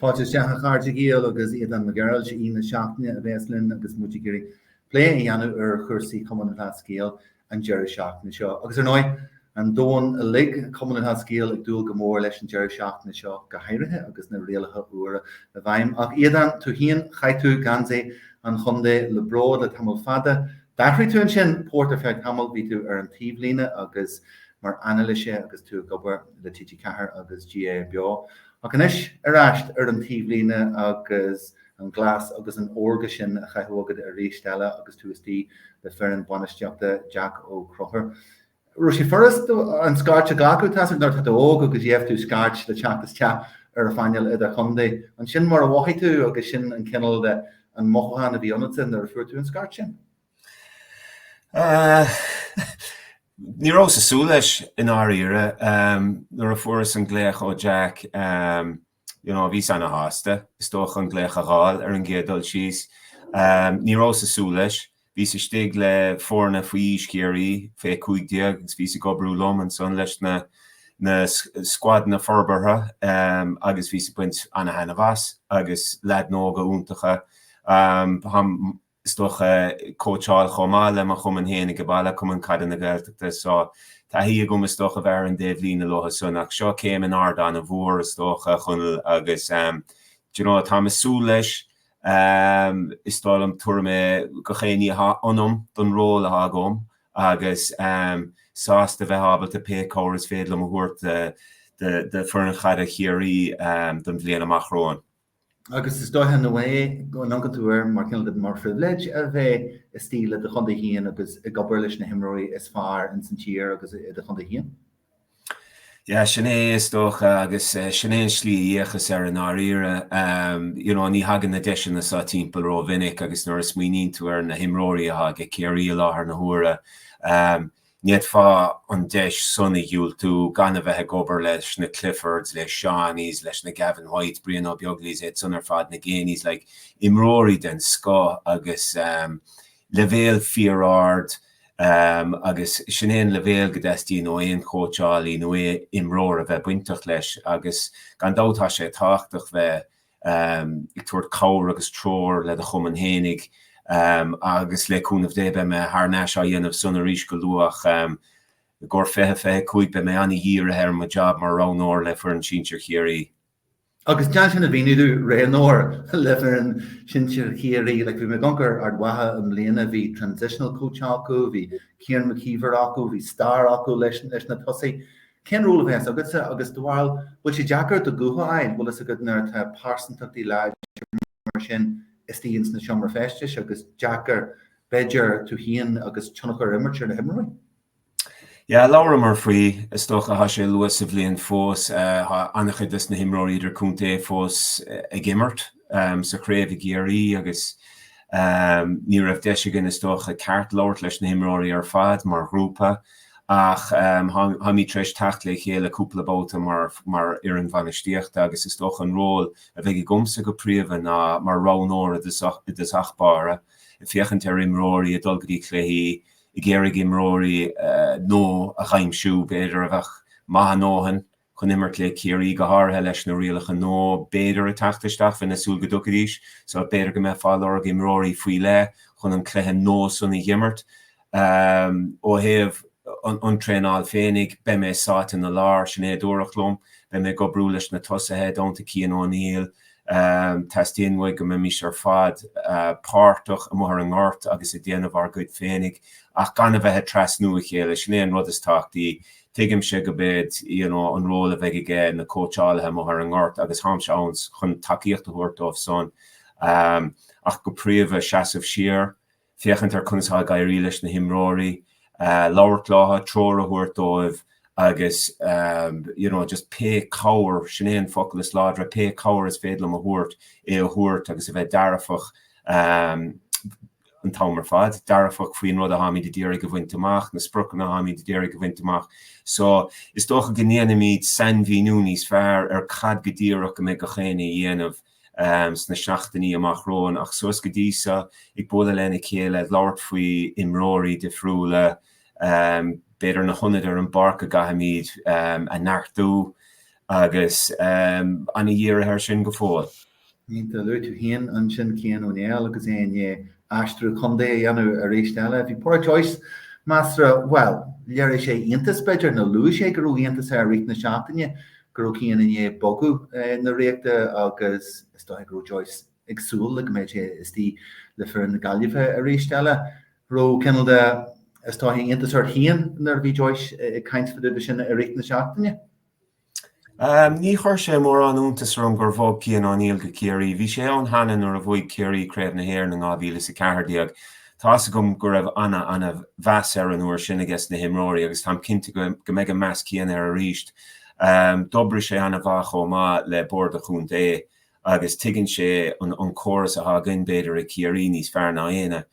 Fáilte isteach a chairde Gael agus Aodán Mac Gearailt, is é aoi na seachtaine a bhéas linn agus muid ag iarraidh plé a dhéanamh ar chúrsaí Chumann Lúthchleas Gael an deireadh seachtaine seo. Agus ar ndóigh, an domhan uilig, Cumann Lúthchleas Gael ag dúil go mór leis an deireadh seachtaine seo go háirithe agus na rialacha úra i bhfeidhm. Ach Aodán, tú féin, chaith tú geansaí an chontae le bród le tamall fada. D'athraigh tú ansin port ar feadh tamaill, bhí tú ar an taobhlíne agus mar anailísí agus tú ag obair le TG4 agus GAA Beo. Ach anois ar ais ar an taobhlíne agus an glas agus an órga sin á chaitheamh agat arís eile agus tú istigh le foireann bainistíochta Jack Ó Conchúir. raibh sé furasta an scairt a ghlacadh tá a fhios agat nuair atá tú óg agus gheibh tú scairt le teacht isteach ar an phainéal idir-chontae. An sin mar a mhothaigh tú agus sin an cineál de an mothúchán a bhí ionatsa nuair a fuair tú an scairt sin? Ní rabhas ag súil leis i ndáiríre. Nuair a fuaireas an glaoch ó Jack you know bhíos ana-shásta is dócha an glaoch a dh'fháil ar an gcéad dul síos. Ní rabhas ag súil leis. Bhíos istigh le foirne faoi aois Chiarraí, fé 15, agus bhíos ag oibriú liom ansan leis na na scuadanna forbartha agus bhíos ag baint ana-thaitneamh as agus leaideanna óga iontacha. is dócha, cóitseáil chomh maith le mo chumann féin ag baile, Cumann Caide na Gaeltachta, so taithí agam is dócha a bheith ar an dtaobh líne leothu san ach seo céim in airde an-mhór is dócha, a Chonaill, agus d'you know táim ag súil leis, is dóigh liom tabharfaidh mé gach aon ní atá ionam don ról atá agam agus sásta a bheith ábalta pé cabhair is féidir liom a thabhairt do foireann chaide Chiarraí don bhliain amach romhainn. agus is dóiche nó é go n-amharcann tú air mar cineál de mar phribhléid a bheith istigh le do chontae féin agus ag obair leis na himreoirí is fearr ins an tír agus i do chontae féin. Yeah, sin é, is dócha, agus sin é an slí a dh'fhéachas air i ndáiríre. You know, ní thagann na deiseanna seo timpeall rómhinic agus nuair a smaoiníonn tú ar na himreoirí atá ag Ciarraí i láthair na huaire, Ní fhéadfá an deis san a dhiúltú gan a bheith ag obair leis na Cliffords, le Seánies, leis na Gavin Whites, Brian Ó Beaglaois iad san ar fad, na Geaneys, like, imreoirí den scoth agus leibhéal fíor-ard agus sin é an leibhéal go dteastaíonn ó aon chóitseálaí nó aon imreoir a bheith bainteach leis agus gan dabht tá sé tábhachtach bheith ag tabhairt cabhair agus treoir le do chumann fhéinig agus le cúnamh Dé beidh mé thar n-ais á dhéanamh san arís go luath ach i gcomhair 2025 beidh mé an-dhírithe ar mo jab mar roghnóir le foireann sinsir Chiarraí. Agus déan sin a mhíniú domh, roghnóir le foireann sinsir Chiarraí, like bhí mé ag amharc ar Ard Mhacha i mbliana, bhí transitional coach acu, bhí Kieran McKeever acu, bhí Star acu leis na tosaithe. Cén ról a bheas agat agus, dóigh, bhuel? Bhfuil sé deacair do ghuth a bheith? Bhfuil fhios agat nuair atá pearsantachtaí láidre mar sin istigh ins an seomra feistis agus deacair, b'fheidir, tú fhéin agus tionchar a imirt ar na himreoirí? Yeah, labhramar faoi, is dócha thá sé luath sa bhliain fós, thá an-chuid dos na himreoirí idir-contae fós ag imirt. sa chraobh i gCiarraí agus ní raibh deis againn is dócha ceart labhairt leis na himreoirí ar fad mar ghrúpa ach táimid tar éis teacht le chéile cúpla babhta mar fhoireann bhainistíochta agus is dócha an ról a bheidh agamsa go príomha ná mar roghnóir i dtosach báire ag féachaint ar imreoirí ag dul go dtí cluichí, ag iarraidh imreoirí nua a aimsiú b'fhéidir a bheadh maith a ndóthain chun imirt le Ciarraí, go háirithe leis na rialacha nua, b'fhéidir, ag teacht isteach. Bheinn ag súil go dtiocfaidís. So b'fhéidir go mbeifeá ag lorg imreoirí faoi leith chun an cluiche nua san a dh'imirt. Ó thaobh an traenáil féinig, beidh mé sáite ina lár, sin é a dúradh liom. Beidh mé ag obrú leis na tosaithe, ar ndóigh, Cian O'Neill. Teastaíonn uaidh go mbeimís ar fad páirteach, amuigh ar an ngort agus ag déanamh ár gcuid féinig ach gan a bheith ag trasnú a chéile, sin é an rud is tábhachtaí. Tuigimse go mbeidh you know an ról a bheidh aiges na cóitseálaithe amuigh ar an ngort agus táimse ann chun tacaíocht a thabhairt dóibh san ach go príomha seasamh siar, féachaint ar conas atá ag éirí leis na himreoirí, labhairt leo, treoir a thabhairt dóibh agus you know just pé cabhair, sin é an focal is láidre, pé cabhair is féidir liom a thabhairt, é a thabhairt agus a bheith dearfach, an t-am ar fad, dearfach faoin rud a táimid ag iarraidh a bhaint amach, na spriocanna a táimid ag iarraidh a bhaint amach. So, is dócha go ndéanfaimid sainmhíniú níos fearr ar cad go díreach go mbeidh gach éinne a dhéanamh sna seachtainí amach romhainn ach suas go dtí seo, ag bualadh lena chéile, ag labhairt faoi imreoirí difriúla, b'fhéidir na hionaid ar an bpáirc go gcaithfimid a neartú agus ana dhírithe air sin go fóill. Aindí, luaigh tú fhéin ansin Cian Ó Néill agus é i ndiaidh aistriú contae a dhéanamh arís eile. Bhí Pádraic Joyce measartha, bhuel, léirigh sé iontas, b'fhéidir, nó luaigh sé go raibh iontas air i rith na seachtaine go raibh Cian i ndiaidh bogadh chun na Ríochta agus is dóigh go raibh Joyce ag súil go mbeadh sé istigh le foireann na Gaillimhe arís eile. Raibh cineál de, is dóigh, iontas ort fhéin nuair a bhí Joyce ag caint fadúda sin i rith na seachtaine. Ní chuir sé mórán iontais orm gur bhog Cian O'Neill go Ciarraí. Bhí sé ann cheana nuair a bhuaigh Ciarraí Craobh na hÉireann in 2014. Tá fhios agam go raibh ana, ana mheas air an uair sin aiges na himreoirí agus táim cinnte go mbeidh an meas céanna air arís. D'oibrigh sé ana mhaith chomh maith le Bord an Chontae agus tuigeann sé an córas atá againn, b'fhéidir, i gCiarraí níos fearr ná aoinne.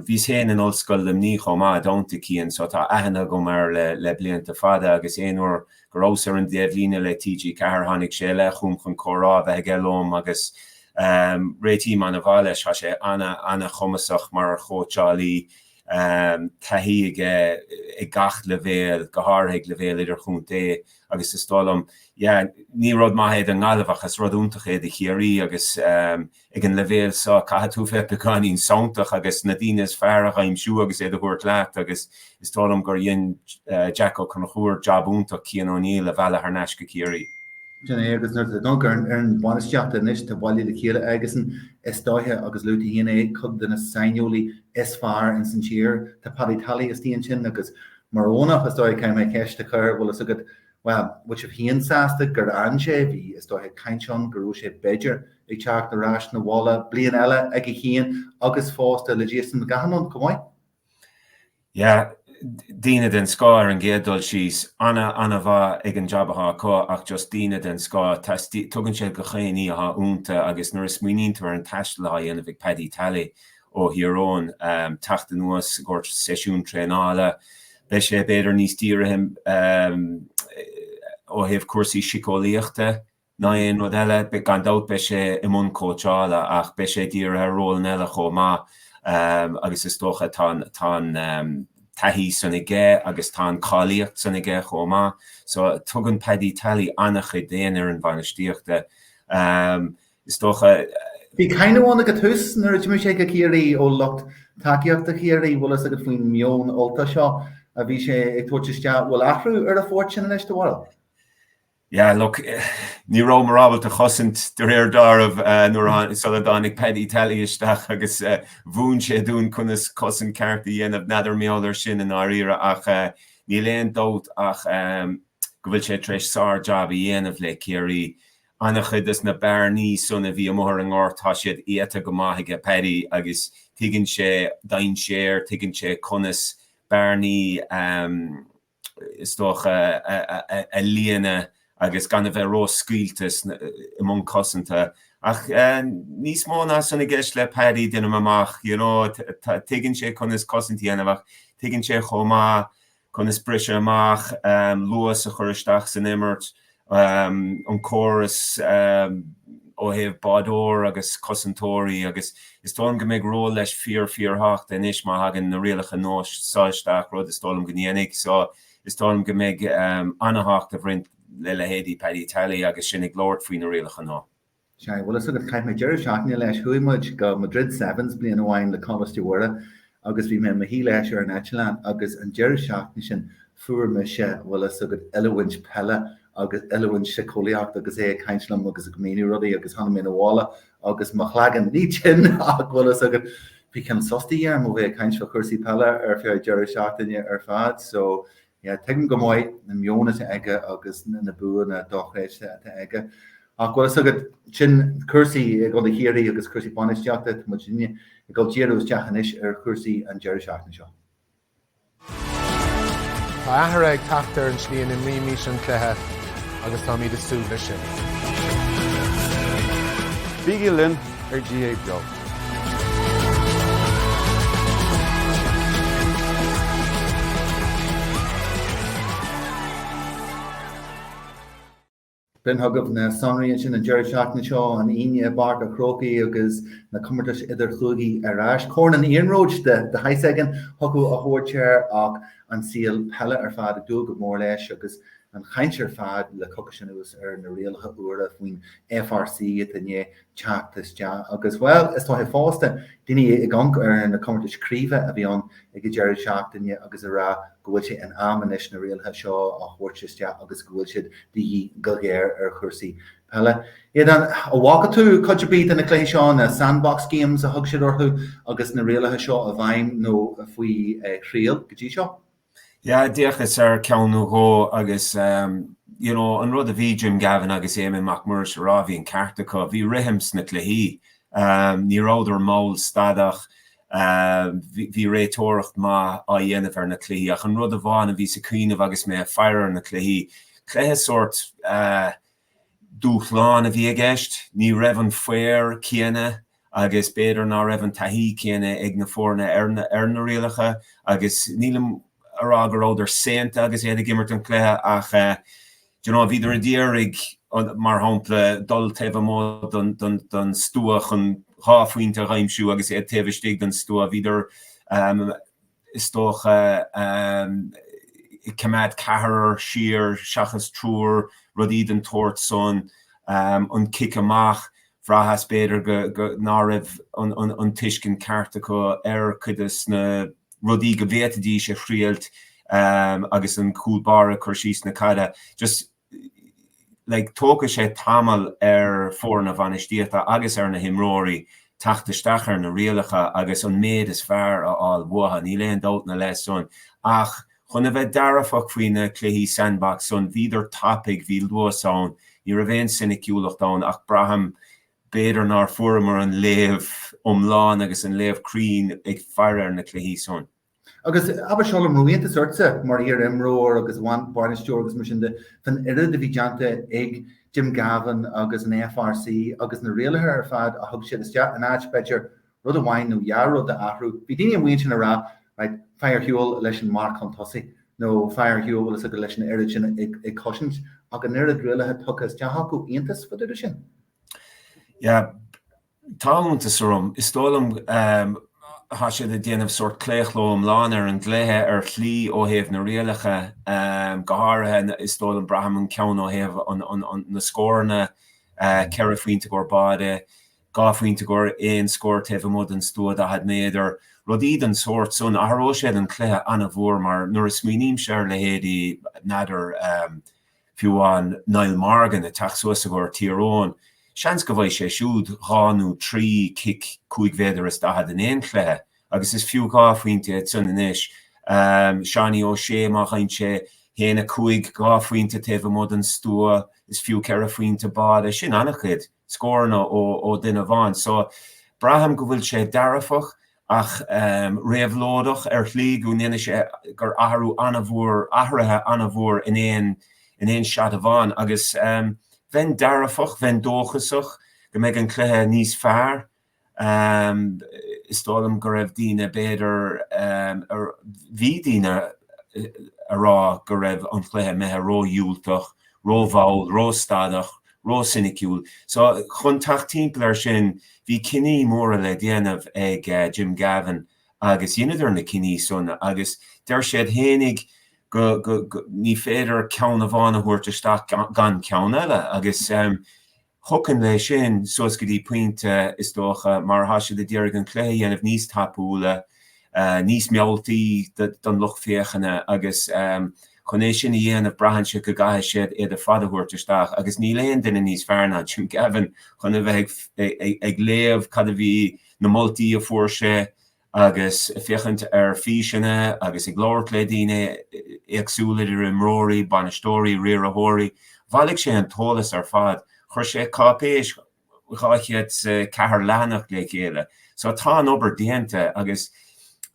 Bhíos féin in Ollscoil Luimní chomh maith, i dteannta Cian, so tá aithne agam air le blianta fada agus aon uair go rabhas ar an dtaobhlíne le TG4 tháinig sé i leith chugam chun comhrá a bheith aige liom agus réitím an-mhaith leis. Tá sé an-chumasach mar chóitseálaí. taithí aige ag gach leibhéal, go háirithe ag leibhéal idirchontae agus is dóigh liom, yeah, ní rud maith é don nGaillimh ach is rud iontach é do Chiarraí agus ag an leibhéal seo caithfidh tú a bheith beagáinín santach agus na daoine is fearr a aimsiú agus iad a thabhairt leat agus is dóigh liom gur dhein Jack Ó Conchúir jab iontach Cian O'Neill a mhealladh thar n-ais go Ciarraí. Sin é agus nuair a d'amharc tú ar an bhainistíocht anois atá bailithe le chéile aigesan is dóiche agus luaigh tú féin é, cuid de na saineolaithe is fearr ins an tír. Tá Paddy Tally istigh ansin agus mar Eoghanach, is dóigh, caithfidh mé ceist a chur, bhfuil fhios agat, bhuel, bhfuil sibh féin sásta gur fhan sé, bhí, is dóigh, caint ann go raibh sé b'fhéidir ag teacht ar ais 'na bhaile bliain eile aige féin agus fosta le Jason McGahan ann chomh maith? Yeah, daoine den scoth ar an gcéad dul síos, an-an-mhaith ag an jab athá acu ach just daoine den scoth, tugann siad gach aon ní athá ionta agus nuair a smaoiníonn tú ar an taisteal athá dhéanamh ag Paddy Tally ó Thír Eoghain teacht anuas i gcomhair seisiún traenála. Beidh sé b'fhéidir níos dírithe ó thaobh cúrsaí siceolaíochta ná aon rud eile. Gan dabht beidh sé i mbun cóitseála ach beidh sé dírithe ar rólanna eile chomh maith agus is dócha tá an taithí san aige agus tá an cháilíocht san aige chomh maith. So tugann Paddy Tally an-chuid d'aon fhoireann bhainistíochta. Is dócha. Bhí cáineadh ann ag an tús nuair a d'imigh sé go Ciarraí ó lucht tacaíochta Chiarraí. Bhfuil fhios agat faoin meon Ultach seo a bhí sé ag tabhairt isteach? Bhfuil athrú ar an phort sin anois do bharúil? Yeah look, ní rabhamar ábalta chosaint de réir dealraimh nuair a sula dtáinig Paddy Tally isteach agus mhúin sé dúinn conas cosaint ceart a dhéanamh. N'fheadar mar gheall air sin i ndáiríre ach níl aon dabht ach go bhfuil sé tar éis sár-jab a dhéanamh le Ciarraí An-chuid de na bearnaí san a bhí amuigh ar an ngort tá siad iata go maith aige Paddy, agus tuigeann sé dainséir, tuigeann sé conas bearnaí is dócha a líonadh agus gan a bheith ró-scaoilte i mbun cosanta. Ach níos mó ná san i gceist le Paddy, déanaim amach. You know, tuigeann sé conas cosaint a dhéanamh ach tuigeann sé chomh maith, conas briseadh amach, luas a chur isteach san imirt, an córas ó thaobh báideoir agus cosantóirí agus is dóigh liom go mbeidh ról leis fíor-fíorthábhachtach anois má thagann na rialacha nua seo isteach, rud is dóigh liom go ndéanfaidh. So, is dóigh liom go mbeidh an-thábhacht ag roinnt le leithéidí Paddy Tally agus sinn ag labhairt faoi na rialacha nua. Sea, bhfuil 'fhios agat, chaith mé deireadh seachtaine leis, chuaigh muid go Madrid Sevens bliain amháin le Coláiste Mhuire agus bhí mé i mo shuí leis ar an eitleán agus an deireadh seachtaine sin fuair mise, bhfuil 'fhios agat, oiliúint peile agus oiliúint síceolaíochta agus é ag caint liom agus ag míniú rudaí agus tháinig mé 'na bhaile agus mo chloigeann, ní tinn ach bhfuil 'fhios agat, bhí cineál sos de dhíth orm ó bheith ag caint fá chúrsaí peile ar feadh deireadh seachtaine ar fad so, Tuigim go maith an meon atá aige agus na buanna dochreidte atá aige ach bhfuil fhios agat, sin cúrsaí i gContae Chiarraí agus cúrsaí bainistíochta, muidne ag dul díriú isteach anois ar chúrsaí an deireadh seachtaine seo. Tá athrú ag teacht ar an tslí a n-imrímid an cluiche agus táimid ag súil leis sin. Bígí linn ar GAA Beo. B'in chugaibh na sonraí ansin an deireadh seachtaine seo, an Aoine i bPáirc a' Chrócaigh agus na comórtais idirchúigí ar ais. Corn an iarnróid de shaghas éigin thiocfadh a thabhairt air ach an saol peile ar fad ag dúil go mór leis agus an chaint ar fad le coicís anuas ar na rialacha úra faoin FRC atá i ndiaidh teacht isteach agus, bhuel, is dóiche fosta, daoine ag amharc ar na comórtais craoibhe a bhí ann ag an deireadh seachtaine agus ag rá go bhfuil sé in am anois na rialacha seo a thabhairt isteach agus go bhfuil siad de dhíth go géar ar chúrsaí peile. Aodán, an bhfaca tú cuid ar bith de na cluichí seo, na sandbox games a thug siad orthu agus na rialacha seo i bhfeidhm nó faoi thriail go dtí seo? Yeah, d'fhéachas ar cheann nó dhó agus you know an rud a bhí Jim Gavin agus Éamonn Mac Muiris a rá, bhí an ceart acu, bhí rithim sna cluichí, ní rabhadar mall stadach, bhí réiteoireacht maith á dhéanamh ar na cluichí ach an rud amháin a bhíos ag cuimhneamh agus mé ag faire ar na cluichí, cluiche sórt eh, dúshlán a bhí i gceist. Ní raibh an faobhar céanna agus b'fhéidir ná raibh an taithí céanna ag na foirne ar na rialacha agus nílim a rá go rabhadar saonta agus iad ag imirt an chluiche ach you know bhíodar a d'iarraidh mar shampla dul taobh amuigh don stua chun dhá phointe a aimsiú agus iad taobh istigh don stua bhíodar is dócha, ag coimeád ceathrar siar seachas triúr, rudaí den tsórt san, an cic amach, bhraitheas b'fhéidir go ná raibh an tuiscint ceart acu ar chuid des na rudaí go bhféadfaidís a thriailt agus an cúl báire ag cur síos na caide. Just. Tógfaidh sé tamall ar fhoirne bainistíochta agus ar na himreoirí teacht isteach ar na rialacha agus an méid is fearr a fháil uathu, níl aon dabht ina leith san. Ach chun a bheith dearfach faoi na cluichí sandbox san, bhíodar tapaidh, bhí luas ann, ní raibh aon soiniciúlacht ann ach braithim b'fhéidir nár fuaireamar an léamh iomlán agus an léamh cruinn ag faire ar na cluichí san. Agus abair seo liom, raibh iontas ortsa mar iar-imreoir agus bainisteoir agus mar sin de fán oiread a bhí déanta ag Jim Gavin agus an FRC agus na rialacha ar fad a thug siad isteach in áit, b'fhéidir, rud amháin nó dhá rud a athrú. Bhí daoine amuigh ansin a rá, right, faigh ar shiúl leis an marc chun tosaigh nó faigh ar shiúl bhfuil fhios agat leis an oiread sin ag, ag cosaint ach an oiread rialacha tugtha isteach acu, iontas fá dtaobh de sin? Yeah, Tá iontas orm. Is dóigh liom tá siad ag déanamh sórt claochló iomlán ar an gcluiche ar shlí ó thaobh na rialacha, go háirithe is dóigh liom, braithim, an ceann ó thaobh na scóranna, ceithre phointe i gcomhair báire, dhá phointe i gcomhair aon scór taobh amuigh den stua 40 méadar. Rudaí den tsórt san, athróidh siad an cluiche ana-mhór mar nuair a smaoinímse ar leithéidí, n'fheadar, Fiú amháin Niall Morgan ag teacht suas i gcomhair Tír Eoghain, seans go bhfaighidh sé siúd dhá nó trí chic cúig mhéadar is daichead in aon chluiche agus is fiú dhá phointe iad san anois. Seánie O'Shea, má fhaigheann sé a haon, a cúig, dhá phointe taobh amuigh den stua, is fiú ceithre phointe báide. Sin ana-chuid. scóranna ó dhuine amháin. So, braithim go bhfuil sé dearfach ach réabhlóideach ar shlí, go ndéanfaidh sé, gur athrú ana-mhór, athruithe ana-mhór in aon, in aon seat amháin. Agus bheinn dearfach, bheinn dóchasach go mbeidh an cluiche níos fearr Is dóigh liom go raibh daoine, b'fhéidir, bhí daoine a rá go raibh an cluiche imithe ródhiúltach, rómhall, róstadach, rósoiniciúil. So, chun teacht timpeall air sin, bhí cinní móra le déanamh ag Jim Gavin agus dheineadar na cinní san agus deir siad fhéinig go ní féidir ceann amháin a thabhairt isteach gan ceann eile agus Thiocfainn leis sin, suas go dtí pointe, is dócha, mar tá siad ag iarraidh an cluiche a dhéanamh níos tapúla, níos mealltaí don lucht féachana agus chun é sin a dhéanamh braitheann sé go gcaithfidh siad iad ar fad a thabhairt isteach agus níl aon duine níos fearr ná Jim Gavin chun a bheith ag léamh cad a bhí, na moltaí a fuair sé agus féachaint ar físeanna agus ag labhairt le daoine éagsúla idir imreoirí, bainisteoirí, riarthóirí, bhailigh sé an t-eolas ar fad. Chuir sé cáipéis 204 leathanach le chéile. So tá an obair déanta agus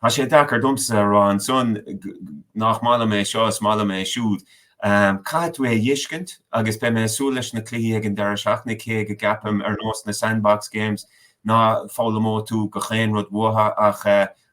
tá sé deacair domsa a rá ansan nach maith liom é seo is maith liom é siúd. Caithfidh tú é a thuiscint agus beidh mé ag súil leis na cluichí ag an deireadh seachtaine cé go gceapaim, ar nós na Sandbox Games, ná foghlaimeoidh tú gach aon rud uatha ach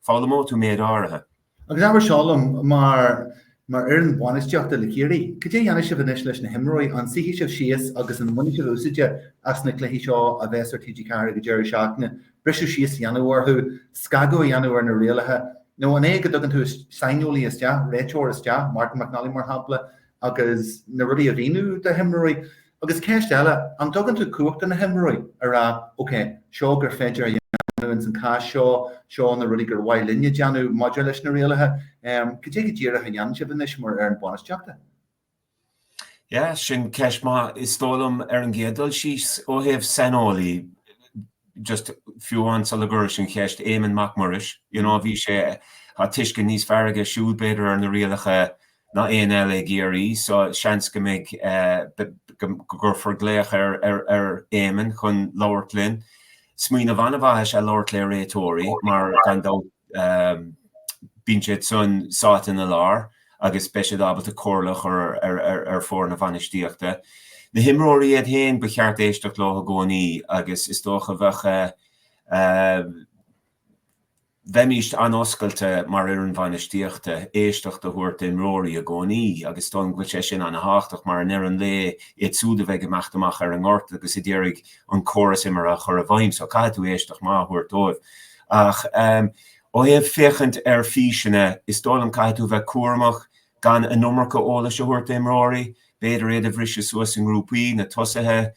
foghlaimeoidh tú méid áirithe. Agus abair seo liom, mar fhoireann bhainistíochta le Ciarraí, cad é a dhéanfaidh sibh anois leis na himreoirí? An suífidh sibh síos agus an mbainfidh sibh úsáide as na cluichí seo a bheas ar TG4 ag an deireadh seachtaine briseadh síos a dhéanamh orthu, scagadh a dhéanamh ar na rialacha, nó an é go dtugann tú saineolaí isteach, réiteoir isteach, Martin McNally mar shampla, agus na rudaí a mhíniú do na himreoirí? Agus ceist eile, an dtugann tú cumhacht do na himreoirí a rá, OK, seo gur féidir linn a dhéanamh ins an cás seo, seo na rudaí gur mhaith linn a dhéanamh maidir leis na rialacha? Cad é go díreach a dhéanann sibh anois mar fhoireann bainistíochta? Yeah, sin ceist maith, is dóigh liom, ar an gcéad dul síos, ó thaobh saineolaí, just fiú amháin sula bhfreagraím an cheist, Éamonn Mac Muiris, you know, bhí sé, tá tuiscint níos fearr aige siúd b'fhéidir ar na rialacha ná éinne eile i gCiarraí, so seans go mbeidh, go gcuirfear glaoch ar Éamonn chun labhairt linn. Smaoineamh an-mhaith is ea labhairt le réiteoirí, mar gan dabht, Bíonn siad san sáite ina lár agus beidh siad ábalta comhairle a chur ar foirne bainistíochta. Na himreoirí iad féin, ba cheart éisteacht leo i gcónaí agus is dócha bheadh bheimíst an-oscailte mar fhoireann bhainistíochta éisteacht a thabhairt d'imreoirí i gcónaí agus is dóigh go bhfuil sé sin an-tábhachtach mar i ndeireadh an lae, iad siúd a bheidh ag imeacht amach ar an ngort agus ag d'iarraidh an córas imeartha a chur i bhfeidhm. So caithfidh tú éisteacht maith a thabhairt dóibh. Ach ó thaobh féachaint ar físeanna, is dóigh liom caithfidh tú bheith cúramach gan an iomarca eolais a thabhairt d'imreoirí. B'fhéidir iad a bhriseadh suas i ngrúpaí, na tosaithe,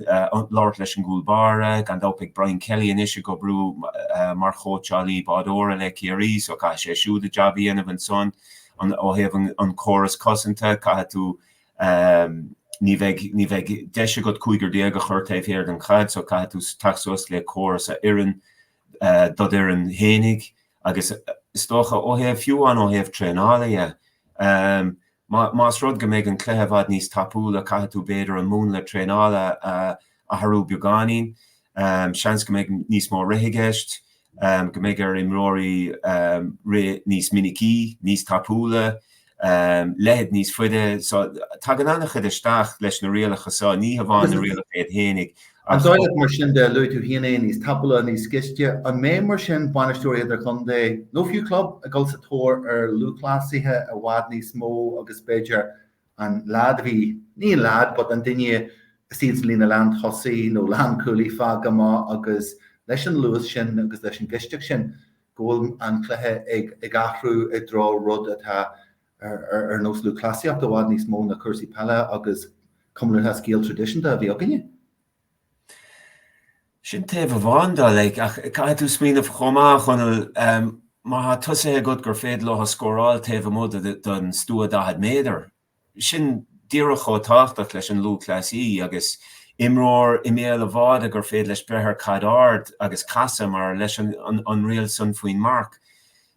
labhairt leis an gcúl báire. Gan dabht beidh Brian Kelly anois ag oibriú mar chóitseálaí báideora le Ciarraí so caithfidh sé siúd a jab a dhéanamh ansan. Ó thaobh an córas cosanta, caithfidh tú Ní bheidh, ní bheidh deis agat cúigear déag a chur taobh thiar den chaid so caithfidh tú teacht suas le córas a oireann dod' fhoireann fhéinig agus is dócha ó thaobh, fiú amháin ó thaobh traenála dhe, más rud go mbeidh an cluiche i bhfad níos tapúla caithfidh tú b'fhéidir an múnla traenála a athrú beagáinín. Seans go mbeidh níos mó rith i gceist, go mbeidh ar imreoirí rith níos minicí, níos tapúla, leithéid níos faide. So tagann an-chuid isteach leis na rialacha seo, ní hamháin na rialacha iad fhéinig ach. An dóigh leat mar sin de, luaigh tú féin é, níos tapúla, níos gaiste, an mbeidh mar sin bainisteoirí idirchontae nó fiú club ag dul sa tóir ar lúthchleasaithe i bhfad níos mó agus b'fhéidir an leaid a bhí, ní an leaid but an duine istigh ins an líne lántosaigh nó lánchúlaí fágtha amach agus leis an luas sin agus leis an gaisteacht sin go bhfuil an cluiche ag ag athrú i dtreo rud atá ar ar ar nós lúthchleasaíocht i bhfad níos mó ná cúrsaí peile agus comórtas scil traidisiúnta a bhí againne. Sin taobh amháin de, like, ach caithfidh tú smaoineamh chomh maith, a Chonaill, má thá tosaithe agat gur féidir leo scóráil taobh amuigh den stua 40 méadar, sin díreach chomh tábhachtach leis an lúthchleasaí agus imreoir i mbéal an bháide gur féidir leis breith ar chaid ard agus casadh, mar leis an riail san faoin marc.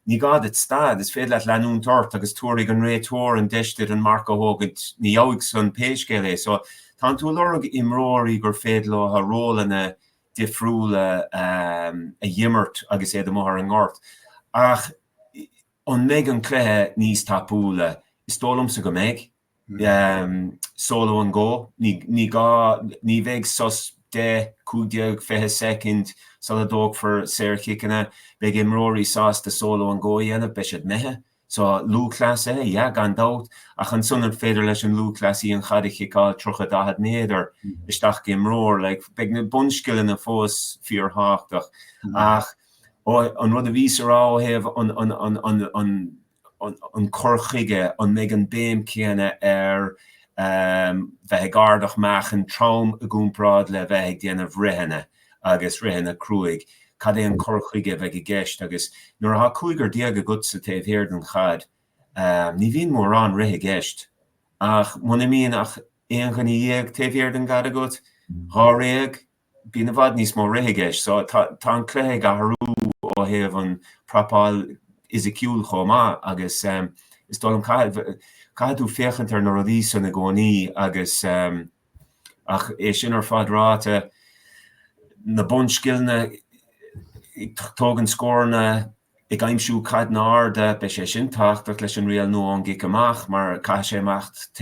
Ní gá duit stad, is féidir leat leanúint ort agus tabharfaidh an réiteoir an deis duit an marc a thógaint, ina dheoidh san pé scéal é. So, tánn tú ag lorg imreoirí gur féidir leo rólanna difriúla a dh'imirt agus iad amuigh ar an ngort. Ach an mbeidh an cluiche níos tapúla? Is dóigh liomsa go mbeidh. seoladh an gó. Ní gá, Ní bheidh sos 10, 15, 20 soicind sula dtógfar saorchiceanna. Beidh imreoirí sásta solo and go a dhéanamh, beidh siad imithe. So, lúthchleasaithe? Yeah, gan dabht. Ach ansan an féidir leis an lúthchleasaí an chaid a chiceáil 30, 40 méadar isteach go imreoir? Like, beidh na bunscileanna fós fíorthábhachtach. Ach an rud a bhíos á rá ó thaobh an, an, an, an, an, an cur chuige, an mbeidh an béim céanna ar bheith ag ardach meáchain trom i gcomparáid le bheith ag déanamh ritheanna agus ritheanna cruaidh, cad é an cur chuige a bheidh i gceist agus nuair atá cúigear déag agatsa taobh thiar den chaid, ní bhíonn mórán rith i gceist ach muna mbíonn ach aon dhuine dhéag taobh thiar den gcaid agat, dháréag, Bíonn i bhfad níos mó rith i gceist so tá an cluiche ag athrú ó thaobh an prapáil fhisiciúil chomh maith agus is dóigh liom caithfidh tú féachaint ar na rudaí san i gcónaí agus ach é sin ar fad ráite na bunscileanna ag tógaint scóranna ag aimsiú caideanna arda, beidh sé sin tábhachtach leis an riail nua ón gcic amach mar caithfidh sé imeacht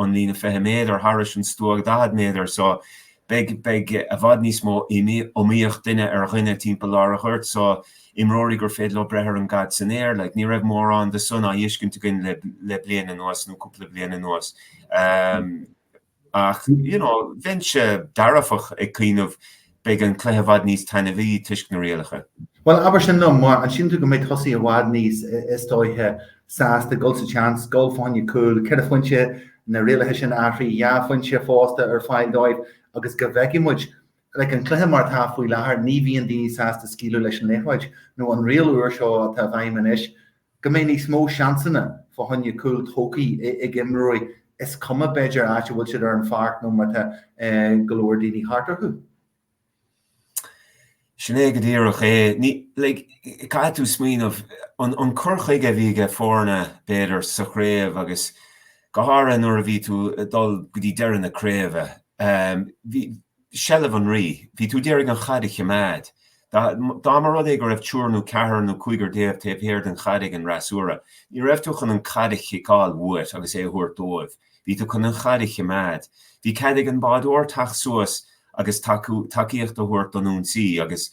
ón líne 20 méadar thairis an stua 40 méadar so beidh, beidh i bhfad níos mó iomaíocht duine ar dhuine timpeall lár an ghoirt so imreoirí gur féidir leo breith ar an gcaid san aer like ní raibh mórán de san á dh'fheiscint againn le, le bliain anuas nó cúpla bliain anuas. Ach, you know, bheinnse dearfach ag cuimhneamh, beidh an cluiche i bhfad níos taitneamhaí toisc na rialacha. Bhuel, abair sin liom, mar an síleann tú go mbeidh tosaithe i bhfad níos, is dóiche, sásta dul sa tseans, gabháil fá choinne cúil, ceithre phointe, na rialacha sin athraithe, dhá phointe fosta ar fáil dóibh agus go bhfeicfidh muid. Like, an cluiche mar atá faoi láthair, ní bhíonn daoine sásta scaoileadh leis an liathróid nó an riail úr seo atá i bhfeidhm anois, Go mbeidh níos mó seansanna fá choinne cúl tógthaí ag imreoirí, is cuma b'fhéidir áit a bhfuil siad ar an pháirc nó má tá go leor daoine thart orthu. Sin é go díreach é. Caithfidh tú smaoineamh, an cur chuige a bhí aiges na foirne b'fhéidir sa chraobh agus go háirithe nuair a bhí tú ag dul go dtí deireadh na craoibhe, seilbh an rí. Bhí tú d'iarraidh an chaid a chimeád. Dá mba rud é go raibh triúr nú ceathrar nú cúigear déag taobh thiar den chaid ag an fhreasúra, ní raibh tú chun an chaid a chiceáil uait agus é a thabhairt dóibh. Bhí tú chun an chaid a chimeád. Bhí cead ag an bhádóir teacht suas agus tacaíocht a thabhairt don ionsaí agus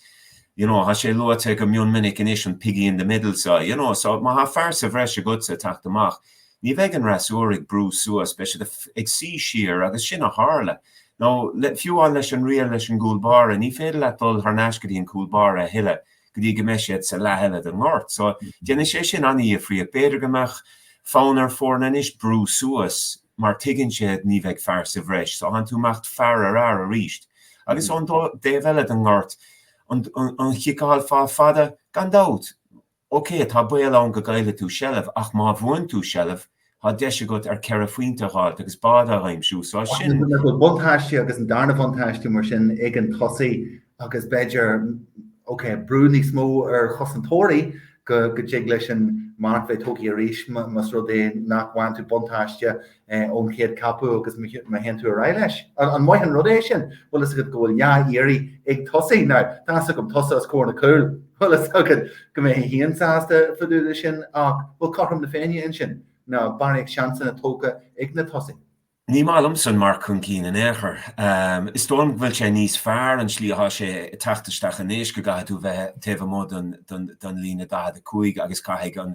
you know thá sé luaite go mion minic anois an piggy in the middle seo, you know so má thá fear sa bhreis agatsa teacht amach, Ní bheidh an fhreasúra ag brú suas, beidh siad ag suí siar agus sin a tharla. Nó, fiú amháin leis an riail leis an gcúl báire, ní féidir leat dul thar n-ais go dtí an cúl báire a thuilleadh go dtí go mbeidh siad sa leath eile den ngort. So, déanfaidh sé sin an-dhifríocht. B'fhéidir go mbeadh fonn ar foirne anois brú suas mar tuigeann siad ní bheidh fear sa bhreis. So, thánn tú ag imeacht fear ar fhear arís. Agus ón dtaobh eile den ngort, an chiceáil fa fada, gan dabht, OK, tá baol ann go gcaillfidh tú seilbh, ach má bhuann tú seilbh, tá deis agat ar ceithre phointe a dh'fháilt agus bád a aimsiú, so sin. Buntáiste agus an darna buntáiste mar sin ag an tosaí agus b'fhéidir, OK, brú níos mó ar chosantóirí go dtig leis an marc bheith tógtha arís más rud é nach bhfaigheann tú buntáiste ón chéad capú agus má théann tú ar aghaidh leis. An maith an rud é sin? Bhfuil fhios agat go bhfuil dhá iarraidh ag tosaí? Nó tá a fhios agam tusa as Corca Dhuibhne. Bhfuil fhios agat go mbeidh Shane sásta fá dtaobh de sin ach bhfuil cothrom na Féinne ansin? Nó barraíocht seansanna tabhartha ag na tosaithe. Ní maith liomsa an marc chun cinn in aon chor. Is dóigh liom go bhfuil sé níos fearr an slí atá sé ag teacht isteach anois go gcaithfidh tú bheith taobh amuigh den líne 45 agus caithfidh an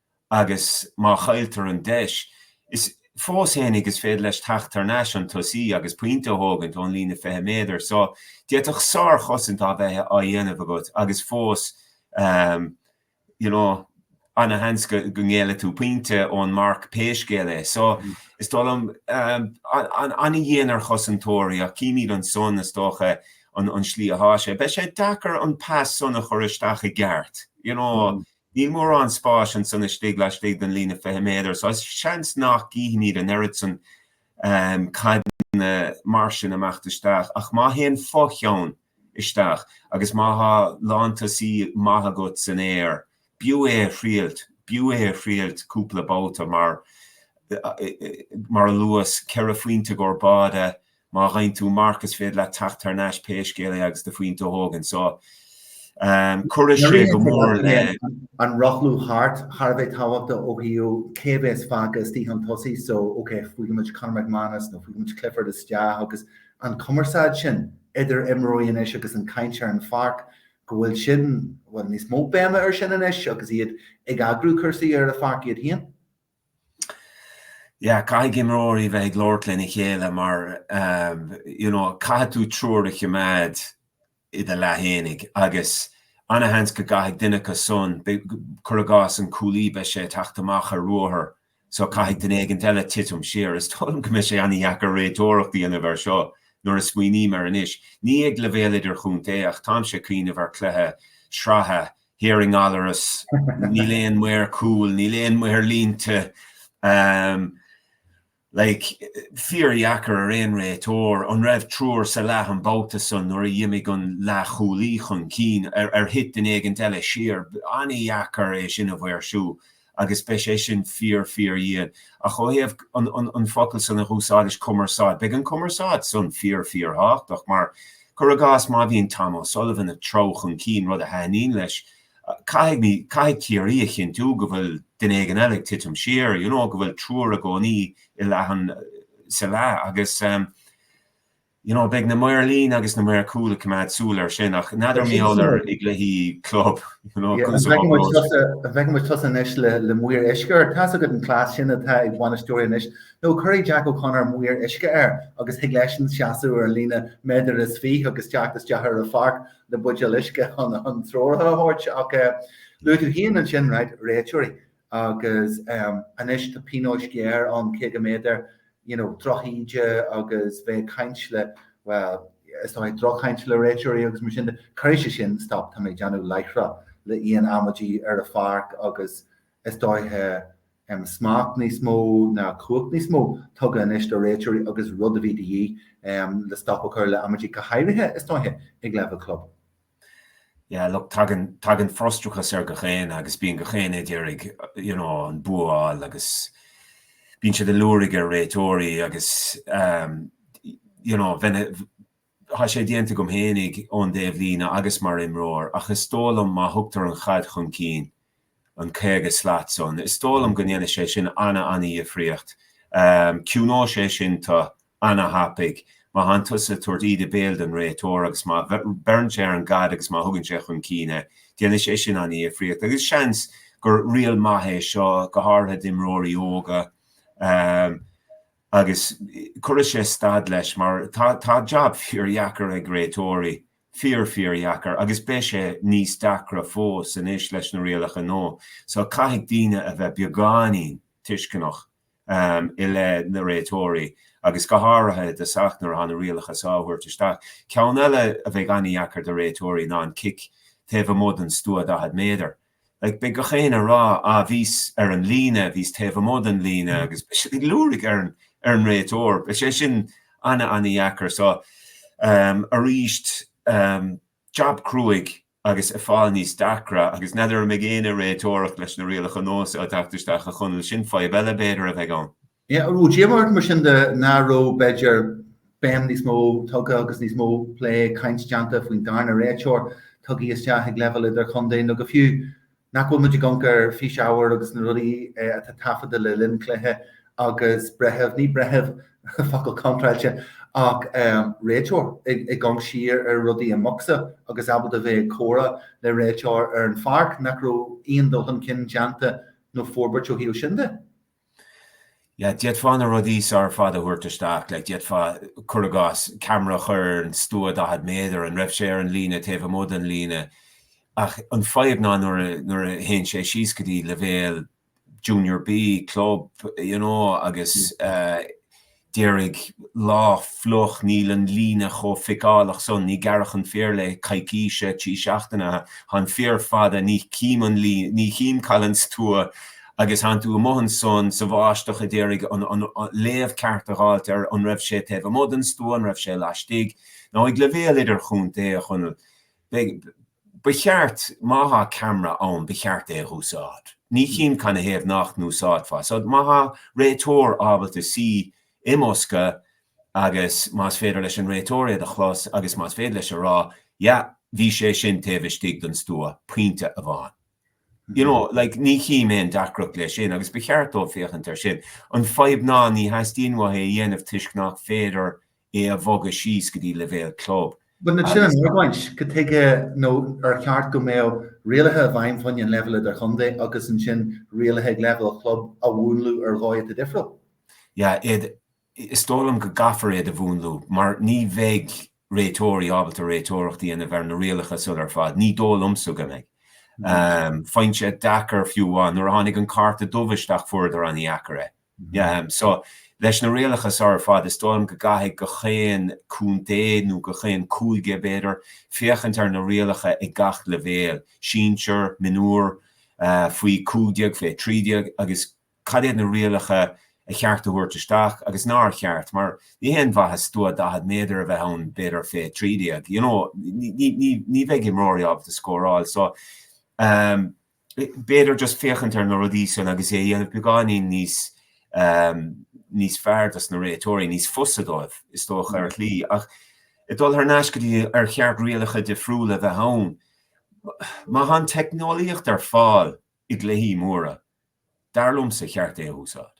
agus má chailltear an deis, is fós fhéinig is féidir leis teacht tar n-ais an tosaí agus pointe a thógaint ón líne 20 méadar so d'fhéadfadh sár-chosaint a bheith á dhéanamh agat agus fós you know ana-sheans go ngéillfidh tú pointe ón marc pé scéal é so is dóigh liom ana-dhian ar chosantóirí ach címid ansan is dócha an slí athá sé. Beidh sé deacair an pas san a chur isteach i gceart, you know, Níl mórán spáis ansan istigh laistigh den líne 20 méadar so seans nach gcífimid an oiread san caideanna mar sin ag imeacht isteach ach má théann fo-cheann isteach agus má tá lántosaí maith agat san aer b'fhiú é a thriailt, b'fhiú é a thriailt cúpla babhta mar a luas, ceithre phointe i gcomhair báide Má dhein tú marc is féidir leat teacht thar n-ais pé scéal é agus do phointe a thógaint. So, chuirfeadh sé go mór le. an rothlú thart thar a bheith tábhachta ó thaobh cé a bheas fágtha istigh chun tosaigh. So, ok, faighimid Conor McManus nó faighimid Clifford isteach agus an cumarsáid sin idir imreoirí anois agus an chaint ar an pháirc go bhfuil sin, bhuel, níos mó béime air sin anois agus iad ag eagrú cúrsaí ar an pháirc iad féin. yeah caithfidh imreoirí bheith ag labhairt lena chéile mar you know caithfidh tú triúr a choimeád i do leath féinig agus ana-sheans go gcaithfidh duine acu san cur i gcás an cúlaí beidh sé ag teacht amach ar ruathar so caithfidh duine éigin eile titim siar is dóigh liom go mbeidh sé ana-dheacair réiteoireacht a dhéanamh air seo nuair a smaoiním air anois. Ní ag leibhéal idirchontae ach táimse ag cuimhneamh ar chluiche sraithe Here i nGallaras, níl aon maor cúil, níl aon maor líne, like, fíordheacair ar aon réiteoir, an raibh triúr sa leath an babhta san nuair a dh'imigh an leathchúlaí chun cinn, ar thit duine éigin eile siar, ana-dheacair é sin a mhaoirsiú, agus beidh sé sin fíor, fíordhian. Ach ó thaobh an focal san a dh'úsáidis, cumarsáid, beidh an cumarsáid san fíor, fíorthábhachtach mar, cuir i gcás, má bhíonn Tom O'Sullivan ag treabhadh chun cinn rud a thaitníonn leis, caithfidh Ciarraí a chinntiú go bhfuil duine éigin eile ag titim siar, you know, go bhfuil triúr i gcónaí i leath an, sa leath agus. You know, beidh na maoir líne agus na maoir cúil ag coimeád súil air sin ach n'fheadar mbeidh a leithéid i gcluichí club, you know, Yeah, an bhfeicfidh muid tusa, an bhfeicfidh muid tusa anois le, le maor uisce, tá a fhios agat an cleas sin atá ag bainisteoirí anois, nó cuirfidh Jack O'Connor maor uisce air agus thig leis-sean seasamh ar an líne méadar is fiche agus teacht isteach ar an pháirc le buidéal uisce chun treoracha a thabhairt ach eh, luaigh tú féin ansin, right, réiteoirí. agus anois tá pionós géar ann tig le mb'fhéidir you know drochíde agus bheith ag caint le, well, is dóiche drochchaint le réiteoirí agus mar sin de. Cuirfidh sé sin stop, tá mé ag déanamh láithreach le aon amaidí ar an pháirc agus is dóiche smacht níos mó nó cumhacht níos mó tugtha anois do réiteoirí agus rud a bhí de dhíth le stop a chur le amaidí go háirithe is dóiche ag leibhéal club. Yeah, look, tagann, tagann frustrachas ar gach éinne agus bíonn gach éinne ag d'iarraidh, you know, an bua a fháil agus bíonn siad ag liúirigh ar réiteoirí agus, um, you know, bheinn, tá sé déanta agam féinig ón dtaobh líne agus mar imreoir ach is dóigh liom má thugtar an chaid chun cinn, an 50 slat san. Is dóigh liom go ndéanfaidh sé sin an-an-dhifríocht. Ciúnóidh sé sin tú an-thapaidh. Má thánn tusa ag tabhairt íde béil don réiteoir agus má bheireann sé ar an gcaid agus má thugann sé chun cinn é, déanfaidh sé sin an-dhifríocht. Agus seans gur riail maith é seo, go háirithe d'imreoirí óga. Agus cuirfidh sé stad leis mar tá jab fíor-dheacair ag réiteoirí. fíor, fíordheacair agus beidh sé níos deacra fós anois leis na rialacha nua so caithfidh daoine a bheith beagáinín tuisceanach i leith na réiteoirí agus go háirithe i dtosach nuair atá na rialacha so á thabhairt isteach. Ceann eile a bheidh an-deacair do réiteoirí ná an cic taobh amuigh den stua 40 méadar. Like, beidh gach éinne ag rá, ah, bhíos ar an líne, bhíos taobh amuigh den líne, agus beidh siad ag liúirigh ar an, ar an réiteoir. Beidh sé sin ana, ana dheacair. So, um, arís, um, jab cruaidh agus ag fáil níos deacra, agus n'fheadar an mbeidh éinne ag réiteoireacht leis na rialacha nua so ag teacht isteach a Chonaill, sin fadhb eile b'fhéidir a bheidh ann. Bhí díomá ort mar sin de nach raibh, b'fhéidir, béim níos mó tugtha agus níos mó plé, caint déanta faoin darna réiteoir tugtha isteach ag leibhéal idir-chontae nó go fiú nach bhfuil muid ag amharc ar físábhar agus na rudaí atá taifeadta le linn cluiche agus breitheamh, ní breitheamh, focal contráilte, ach réiteoir ag amharc siar ar rudaí i mbocsa agus ábalta bheith ag comhrá le réiteoir ar an pháirc, nach raibh aon dul chun cinn déanta nó forbairt ó thaobh sin de? yeah d'fhéadfá na rudaí seo ar fad a thabhairt isteach like d'fhéadfá cuir i gcás ceamara a chur ar an stua 40 méadar an raibh sé ar an líne taobh amuigh den líne ach an fadhb ná nuair a nuair a théann sé síos go dtí leibhéal junior B club you know agus uh, d'iarraidh, lá fliuch, níl an líne chomh feiceálach san, níor gearradh an féar le coicíse, trí seachtaine, thá an féar fada, ní chím an lín, ní chím cá bhfuil an stua, agus thánn tú amuigh ansan sa bháisteach a d'iarraidh, an an léamh ceart a dh'fháilt ar an raibh sé taobh amuigh den stua, an raibh sé laistigh, now ag leibhéal idir-chontae, a Chonaill. Ba cheart, má thá ceamra ann, ba cheart é a dh'úsáid. Ní chím canathaobh nach n-úsáidfeá. So, má thá réiteoir ábalta suí i mbosca agus más féidir leis an réiteoir iad a chlos agus más féidir leis a rá, yeah, bhí sé sin taobh istigh den stua, pointe amháin. You know, like, ní chím aon deacracht leis sin agus ba cheart dóibh féachaint air sin. An fadhb ná, ní theastaíonn uathu é a dhéanamh toisc nach féidir é a bhogadh síos go dtí leibhéal club agus sin an argóint, cad tuige nó ar cheart go mbeadh rialacha i bhfeidhm faoin an leibhéal idir-chontae agus ansin rialacha ag leibhéal club a mhúnlú ar dhóigh atá difriúil? yeah it Is dóigh liom go gcaithfear iad a mhúnlú mar ní bheidh réiteoirí ábalta réiteoireacht a dhéanamh ar na rialacha seo ar fad. Ní dóigh liomsa go mbeidh. Faigheann siad deacair fiú amháin, nuair a tháinig an cárta dubh isteach fuaireadar an-deacair é. So leis na rialacha seo ar fad, is dóigh liom go gcaithfidh gach aon contae, nó gach aon cúige, b'fhéidir, féachaint ar na rialacha ag gach leibhéal, sinsear, mionúr, faoi 15, faoi 13, agus cad iad na rialacha a cheart a thabhairt isteach agus nár cheart, mar ní haon mhaitheas stua 40 méadar a bheith ann, b'fhéidir, faoi 13, you know, ní bheidh imreoirí ábalta scóráil. So. b'fhéidir just féachaint ar na rudaí san agus é a dhéanamh beagáinín níos ehm níos fearr dos na réiteoirí, níos fusa dóibh is dócha ar shlí. Ach ag dul thar n-ais go dtí ar cheart rialacha difriúla a bheith ann, má tá an teicneolaíocht ar fáil i gcluichí móra, dar liomsa cheart é a úsáid.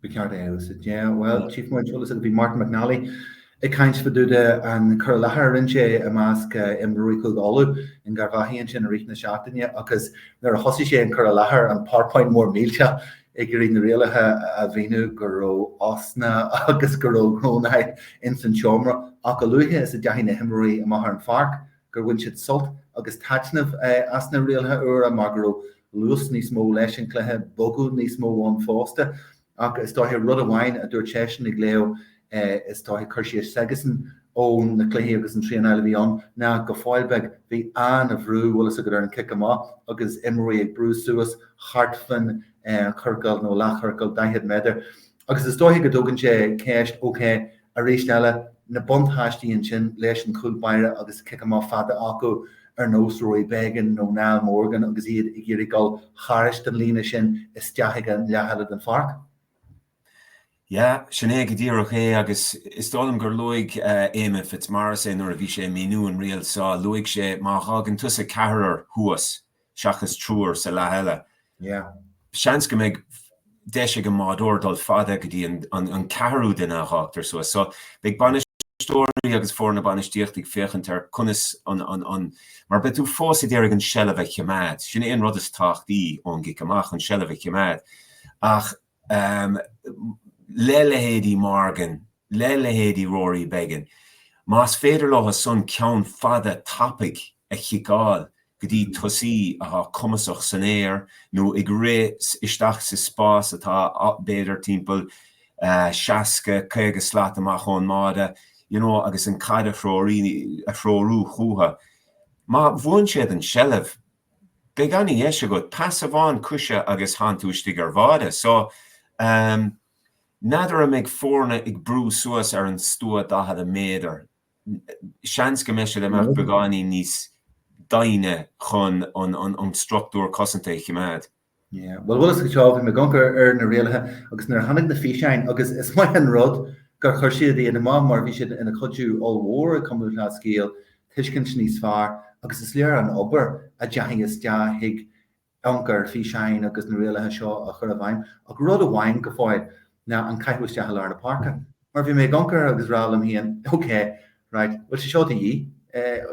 Ba cheart é, yeah, well, tchífidh muid, is dóiche, agus bhí Martin McNally ag caint fá dtaobh den chur i láthair a rinne sé i measc imreoirí Chúige Uladh in Garvaghey ansin i rith na seachtaine agus nuair a thosaigh sé an cur i láthair an powerpoint mór millteach ag iarraidh na rialacha a mhíniú go raibh osna agus go raibh groanáil ins an tseomra ach a luaithe is a dteachaigh na himreoirí amach ar an pháirc gur bhain siad sult agus taitneamh as na rialacha úra mar go raibh luas níos mó leis an gcluiche, bogadh níos mó ann fosta. Ach is dóiche rud amháin a dúirt seisean ag léamh, is dóiche, cur síos s'aigesan ó na cluichí agus an traenáil a bhí ann ná go fóill beag, bhí an-bhrú, bhfuil fhios agat, ar an gcic amach agus imreoirí ag brú suas thart faoin chiorcal nó leathchiorcal 40 méadar. agus is dóiche go dtógann sé ceist, OK, arís eile, na buntáistí ansin leis an chúl báire agus cic amach fada acu ar nós Rory Beggan nó Niall Morgan agus iad ag iarraidh dul thairis den líne sin isteach ag an leath eile den pháirc. Yeah, sin é go díreach é agus is dóigh liom gur luaigh Éamonn Fitzmaurice é nuair a bhí sé ag míniú an riail seo, luaigh sé má fhágann tusa ceathrar thuas, seachas triúr sa leath eile. Seans go mbeidh deis ag an mbádóir dul fada go dtí an ceathrú duine a fhágtar suas. So, beidh bainisteoirí agus foirne bainistíochta ag féachaint ar conas an mar beidh tú fós ag iarraidh an seilbh a choimeád. Sin é an rud is tábhachtaí ón gcic amach, an seilbh a choimeád. Ach le leithéidí Morgan, le leithéidí Rory Beggan, más féidir leosan ceann fada tapaidh a chiceáil go dtí tosaí atá cumasach san aer nó ag rith isteach sa spás atá b'fhéidir timpeall 60, 50 slat amach ón mbáide, you know, agus an caid a threorú chúthu. Má bhuann siad an tseilbh, Beidh ana dheis agat, pas amháin coise agus thánn tú istigh ar bháide. So, em, n'fheadar an mbeidh foirne ag brú suas ar an stua daichead méadar, seans go mbeidh siad ag imeacht beagáinín níos doimhne chun an, an, an struchtúr cosanta a chimeád. Bhuel, bhfuil a fhios agat tá bhí mé ag amharc ar ar na rialacha agus nuair a tháinig na físeáin agus is maith an rud gur chuir siad iad amach mar bhí siad ina chuidiú ollmhór gabh mo leithscéal, tuiscint níos fearr agus is léir an obair a deachaidh isteach ag amharc ar físeáin agus na rialacha seo a chur i bhfeidhm ach rud amháin go fóill ná an caitheamh isteach i lár na páirce. Mar bhí mé ag amharc air agus rá liom féin, OK, right, bhfuil sé seo de dhíth?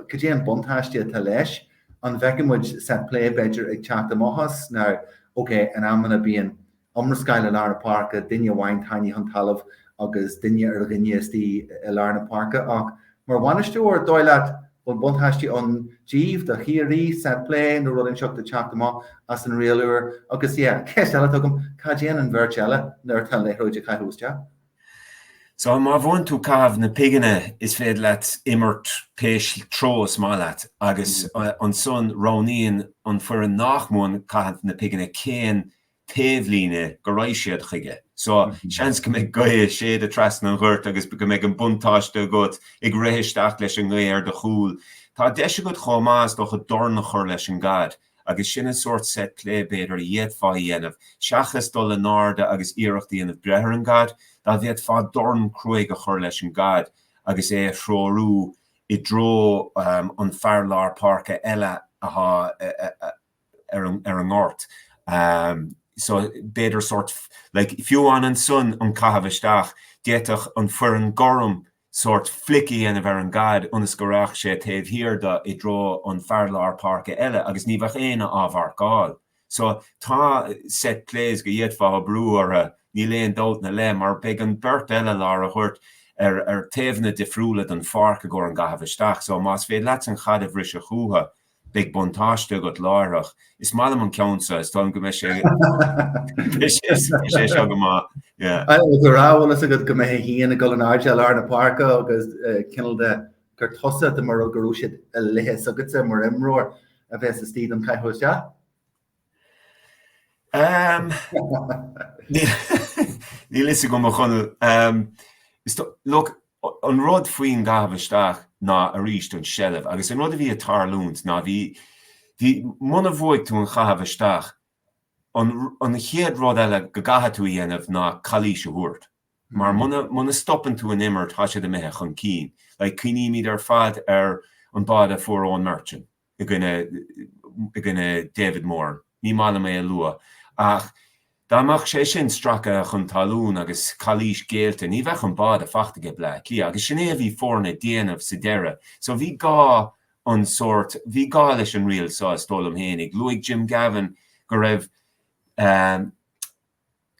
Cad é an buntáiste atá leis? An bhfeicfidh muid set play b'fhéidir ag teacht amach as nó OK, in amanna bíonn iomrascáil i lár na páirce, duine amháin tarraingthe chun talamh agus duine ar dhuine istigh i lár na páirce ach mar bhainisteoir, dóigh leat bhfuil buntáiste ann díbh, do Chiarraí, set play nó rud inteacht ag teacht amach as an riail úr agus yeah, ceist eile atá agam, cá dtéann an bheirt eile nuair atá an liathróid á caitheamh isteach? So, má bhuann tú caitheamh na pighine is féidir leat imirt pé treo is maith leat agus ansan roghnaíonn an foireann nach mbuann caitheamh na pighine cén taobhlíne go raghaidh siad chuige. So, seans go mbeidh gaoth a' séideadh trasna an ghoirt agus go mbeidh an buntáiste agat ag rith isteach leis an ngaoth ar do chúl. Tá deis agat chomh maith is dócha dorn a chur leis an gcaid. agus sin an sórt set play b'fhéidir a d'fhéadfá a dhéanamh seachas dul in airde agus iarracht a dhéanamh breith ar an gcaid, dá bhféadfá dorn cruaidh a chur leis an gcaid agus é a threorú i dtreo an fear lár páirce eile athá ar an ngort so b'fhéidir sórt like fiú an ansan an caitheamh isteach, d'fhéadfadh an foireann gorm sórt flic a dhéanamh ar an gcaid ionas go raghadh sé taobh thiar do i dtreo an fear lár páirce eile agus ní bheadh éinne á mharcáil. So tá set plays go d'fhéadfá oibriú orthu, níl aon dabht ina leith, mar beidh an beirt eile lár an ghoirt ar ar taobhanna difriúla den pháirc i gcomhair an gcaitheamh isteach. So más féidir leatsa an chaid a bhriseadh chúthu, beidh buntáiste agat láithreach. Is maith liom an ceann seo, is dóigh liom go mbeidh sé seo go maith. Agus ag rá bhfuil a fhios agat go mbeidh tú féin ag dul in airde i lár na páirce agus cineál de gur tusa de mar rud go raibh siad a leithéid agatsa mar imreoir a bheas istigh don chaitheamh isteach. Níl a fhios agam, a Chonaill. Look, an rud faoin gcaitheamh isteach ná arís an seilbh agus an rud a bhí ag tarlúint ná bhí, bhí, muna bhuaigh tú an chaitheamh isteach, an, an chéad rud eile go gcaithfidh tú a dhéanamh ná calaois a thabhairt. Mar muna, muna stopann tú an imirt, tá siad imithe chun cinn. Like, cuimhnímid ar fad ar an báide a fuair Eoin Murchan, i gcoinne, i gcoinne David Moran. Ní maith liom é a lua ach dá mbeadh sé sin stracaithe chun talún agus calaois géillte ní bheadh an báide fachta aige Bleá Cliath agus sin é a bhí foirne déanamh sa deireadh so bhí gá an sórt, bhí gá leis an riail so is dóigh liom fhéinig. Luaigh Jim Gavin go raibh.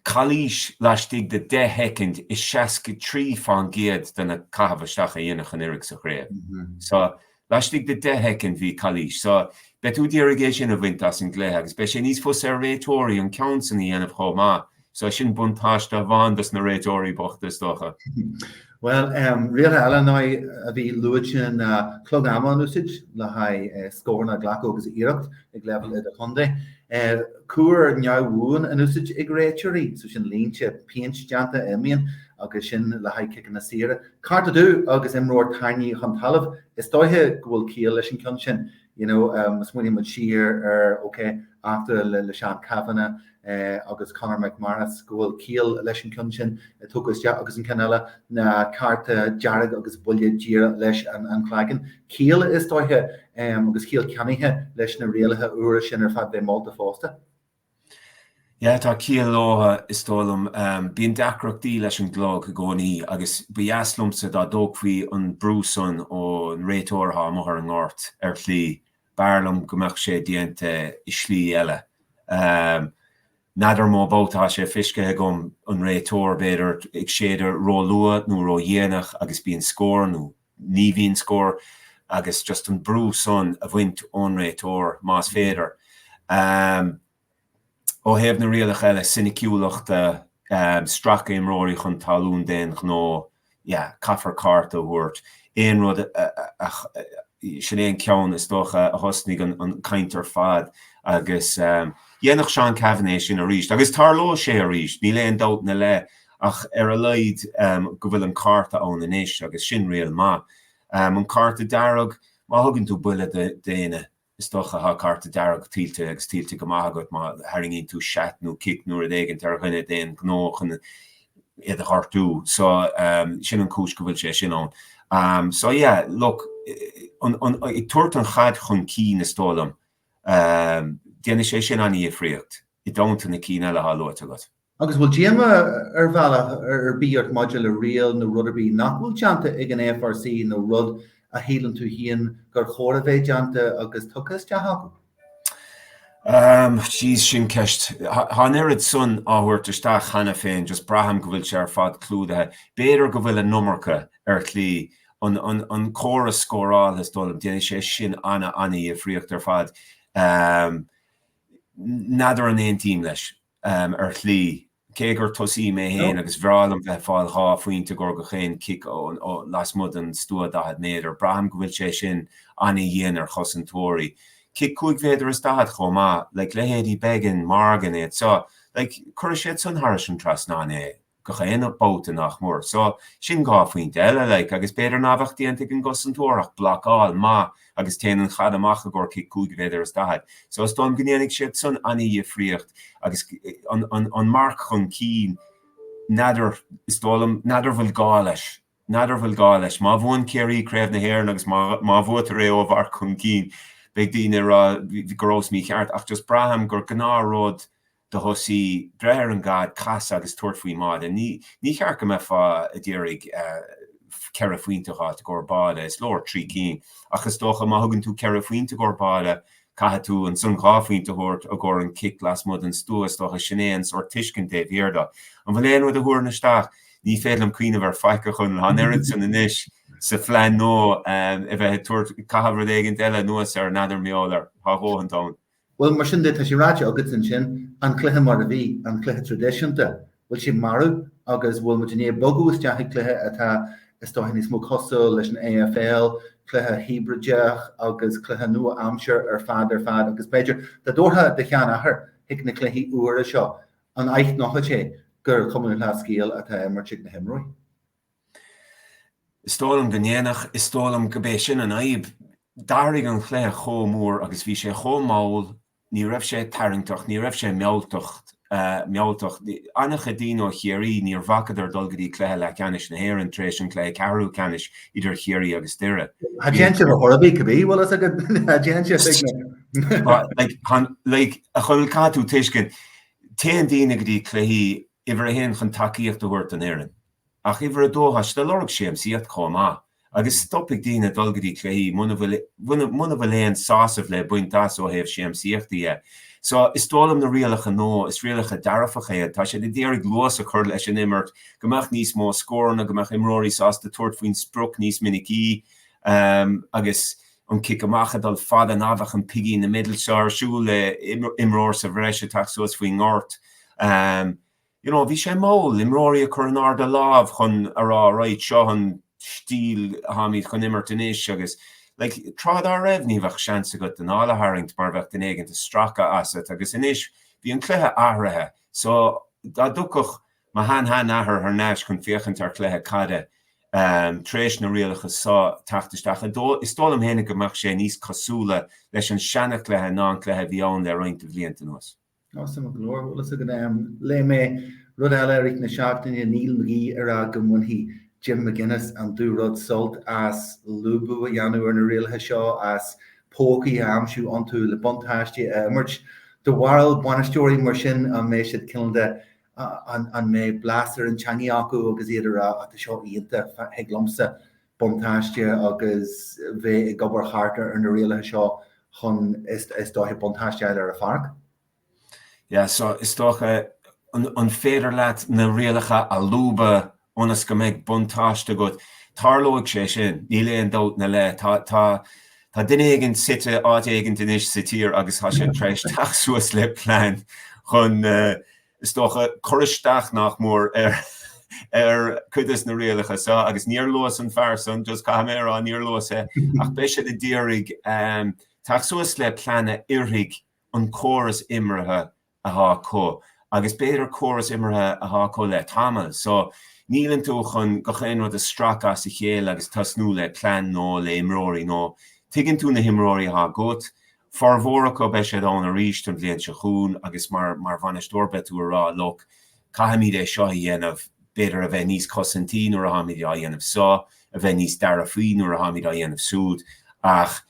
calaois laistigh de 10 shoicind i 63% de na caitheamh isteach a dhéanadh anuraidh sa chraobh. So, laistigh de 10 shoicind bhí calaois. So, beidh tú ag iarraidh é sin a bhaint as an gcluiche agus beidh sé níos fusa ar réiteoirí an ceann san a dhéanamh chomh maith. So, sin buntáiste amháin dos na réiteoirí bochta is dócha. Bhuel, rialacha eile ná a bhí luaite ná clog ama in úsáid le haghaidh scóranna a ghlacadh agus iarracht ag leibhéal idir-chontae, cúr neamhbhuan in úsáid ag réiteoirí, so sin línte péint déanta a imíonn agus sin le haghaidh ciceanna saora, cárta dubh agus imreoir tarraingthe chun talaimh, is dóiche go bhfuil ciall leis an gceann sin, you know, má smaoiníonn muid siar ar, okay, eachtra le Seán Cavanagh, agus Conor McManus, go bhfuil ciall leis an gceann sin a tugadh isteach agus an ceann eile, ná cárta dearg agus buille díreach leis an chloigeann. Ciall is dóiche agus ciall ceannaithe leis na rialacha úra sin ar fad bheith molta fosta. Yeah, tá ciall leo is dóigh liom. Bíonn deacrachtaí leis an gclog i gcónaí agus ba dheas liomsa dá dtógfaí an brú san ón réiteoir atá amuigh ar an ngort ar shlí B'fhearr liom go mbeadh sé déanta i slí eile. N'fheadar an mó babhta atá sé fiscthe agam, an réiteoir, b'fhéidir, ag séideadh róluath nó ródhéanach agus bíonn scór, nó ní bhíonn scór, agus just an brú san a bhaint ón réiteoir, más féidir. Ó thaobh na rialach eile, soiniciúlachta, stracadh imreoirí chun talún d'aon ghnó, yeah, caithfear cárta a thabhairt, aon rud a, sin é an ceann is dócha a thosnaigh an chaint ar fad agus dhéanfadh Seán Cavanagh é sin arís agus tarlóidh sé arís, níl aon dabht ina leith ach ar a laghad go bhfuil an cárta ann anois agus sin riail maith. An cárta dearg, má thugann tú buille do dhuine, Is dócha tá cárta dearg tuillte agus tuillte go maith agat má tharraingíonn tú seat nó cic nó rud éigint ar dhuine d'aon ghnó chun iad a ghortú. So, sin an chúis go bhfuil sé sin ann. So, yeah, look, ag tabhairt an chaid chun cinn, is dóigh liom, déanfaidh sé sin an-dhifríocht i dteannta na cinn eile atá luaite agat. Agus bhfuil díoma ar bhealach ar bith ort maidir le riail nó rud ar bith nach bhfuil déanta ag an FRC nó rud a shíleann tú féin gur chóir a bheith déanta agus tugtha isteach acu? Jeez, sin ceist. Tá an oiread san á thabhairt isteach cheana féin, just braithim go bhfuil sé ar fad clúdaithe. B'fhéidir go bhfuil an iomarca ar shlí, an córas scórála is dóigh liom, déanfaidh sé sin ana-dhifríocht ar fad. N'fheadar an aontaím leis. um, ar shlí, cé gur tosaí mé féin agus bhreá liom bheith ag fáil dhá phointe i gcomhair gach aon chic ó lasmuigh den stua 40 méadar, braithim go bhfuil sé sin an-dhian ar chosantóirí. Cic cúig mhéadar is daichead chomh maith, like leithéidí Beggan, Morgan, iad seo, like cuirfidh siad san thairis an trasnán é. gach aon bhabhta nach mór. So, sin dhá phointe eile, like, agus b'fhéidir nach bheadh déanta ag an gcosantóir ach blocáil maith agus téann an chaid amach i gcomhair cic cúig mhéadar is daichead. So, is dóigh liom go ndéanfaidh siad san an-dhifríocht agus an marc chun cinn, n'fheadar, is dóigh liom, n'fheadar an bhfuil gá leis, n'fheadar an bhfuil gá leis. Má bhuann Ciarraí Craobh na hÉireann agus má bhuaitear é ó mharc chun cinn, beidh daoine ag rá go rabhas mícheart ach just braithim gur gnáthrud do thosaí breith ar an gcaid, casadh agus tabhairt faoin mbáide. Ní ceart go mbeifeá ag iarraidh ceithre phointe a dh'fháilt i gcomhair báide, is leor trí cinn, ach is dócha má thugann tú ceithre phointe i gcomhair báide caithfidh tú ansan dhá phointe a thabhairt i gcomhair an chic lasmuigh den stua, is dócha sin é an sórt tuiscint taobh thiar do. An bhfuil aon rud a thabharfainn isteach? Ní féidir liom cuimhneamh ar faic a chun an oiread san anois sa phlean nó a bheith ag tabhairt caitheamh rud éigin eile anuas air, n'fheadar an molfar. Tá a dhóthain ann. Bhuel, mar sin de, tá sé ráite agat ansin, an cluiche mar a bhí, an cluiche traidisiúnta, bhfuil sé marbh agus bhfuil muid i ndiaidh bogadh isteach i gcluiche atá, is dóiche, níos mó cosúil leis an AFL, cluiche híbrideach agus cluiche nua-aimseartha ar fad ar fad agus b'fhéidir, dá dtabharfá do sheanathair chuig na cluichí úra seo, an aithneochadh sé gur Cumann Lúthchleas Gael atá á imirt ag na himreoirí? Is dóigh liom go ndéanfadh, is dóigh liom gurb é sin an fhadhb. D'athraigh an cluiche chomh mór agus bhí sé chomh mall, ní raibh sé tarraingteach, ní raibh sé mealltach, mealltach, an-chuid daoine ó Chiarraí níor bhacadar dul go dtí cluiche leathcheannais na hÉireann tar éis an cluiche ceathrú ceannais idir Chiarraí agus Doire. Tá déanta ar a thorbaí cibé a bhfuil fhios agat, tá déanta ar tig na. Like, like, a Choill, caithfidh tú tuiscint, téann daoine go dtí cluichí uimhir a haon chun tacaíocht a thabhairt don fhoireann ach uimhir a dó tá siad ag lorg siamsaíocht chomh maith agus stopfaidh daoine dul go dtí cluichí muna bhfuil muna bhfuil aon sásamh le baint as ó thaobh siamsaíochta dhe so is dóigh liom na rialacha no is rialacha dearfach iad tá siad a d'iarraidh luas a chur leis an imirt go mbeadh níos mó scóranna go mbeadh imreoirí sásta tabhairt faoin sprioc níos minicí agus an cic amach a dul fada ná beadh an piggy in the middle seo ar siúl le imreoir sa bhreis ag teacht suas faoin ngort. You know, bhí sé mall imreoirí a chur in airde a lámh chun a rá right seo an stíl atháimid chun imirt anois agus like tráth dá raibh ní bheadh seans agat d'anáil a tharraingt mar bheadh duine éigin ag stracadh asat agus anois bhí an cluiche athraithe so dá dtiocfadh Mo shean shean athair thar n-ais chun féachaint ar chluiche caide tar éis na rialacha seo teacht isteach. Is dóigh liom fhéinig go mbeadh sé níos cosúla leis an seana chluiche ná an cluiche a bhí ann le roinnt de bhlianta anuas. Awesome go leor, bhfuil fhios agat. Léigh mé rud eile i rith na seachtaine Neil McGee ag rá go mbainfidh Jim McGuinness an dúrud sult as lúbadh a dhéanamh ar na rialacha seo, as pócaí a aimsiú iontu le buntáistí a imirt do bharúil bainisteoirí mar sin an mbeidh siad cineál de an mbeidh blas ar an teangaidh acu agus iad a rá 'Á, tá seo iontach, thig liomsa buntáiste agus bheith ag obair thart ar na rialacha seo chun is dóiche buntáiste a fháil ar an pháirc? Yeah, so is dócha, an féidir leat na rialacha a lúbadh ionas go mbeidh buntáiste agat. Tarlóidh sé sin, níl aon dabht ina leith. Tá tá tá duine éigin suite áit éigin anois sa tír agus tá sé tar éis teacht suas le plean chun, is dócha, cur isteach nach mór ar ar chuid des na rialacha seo agus níor luas an fear san, just caithfidh mé a rá, níor luas é, ach beidh siad ag d'iarraidh teacht suas le plean a oirfidh an córas imeartha athá acu agus b'fhéidir córas imeartha athá acu le tamall so níleann tú chun gach aon rud a stracadh as a chéile agus tosnú le plean nó le imreoirí nó tuigeann tú na himreoirí athá agat formhór acu beidh siad ann arís an bhliain seo chugainn agus mar mar bhainisteoir beidh tú a rá look caithfimid é seo a dhéanamh b'fhéidir a bheith níos cosantaí nuair atháimid á dhéanamh so a bheith níos dearfaí nuair atháimid á dhéanamh súd ach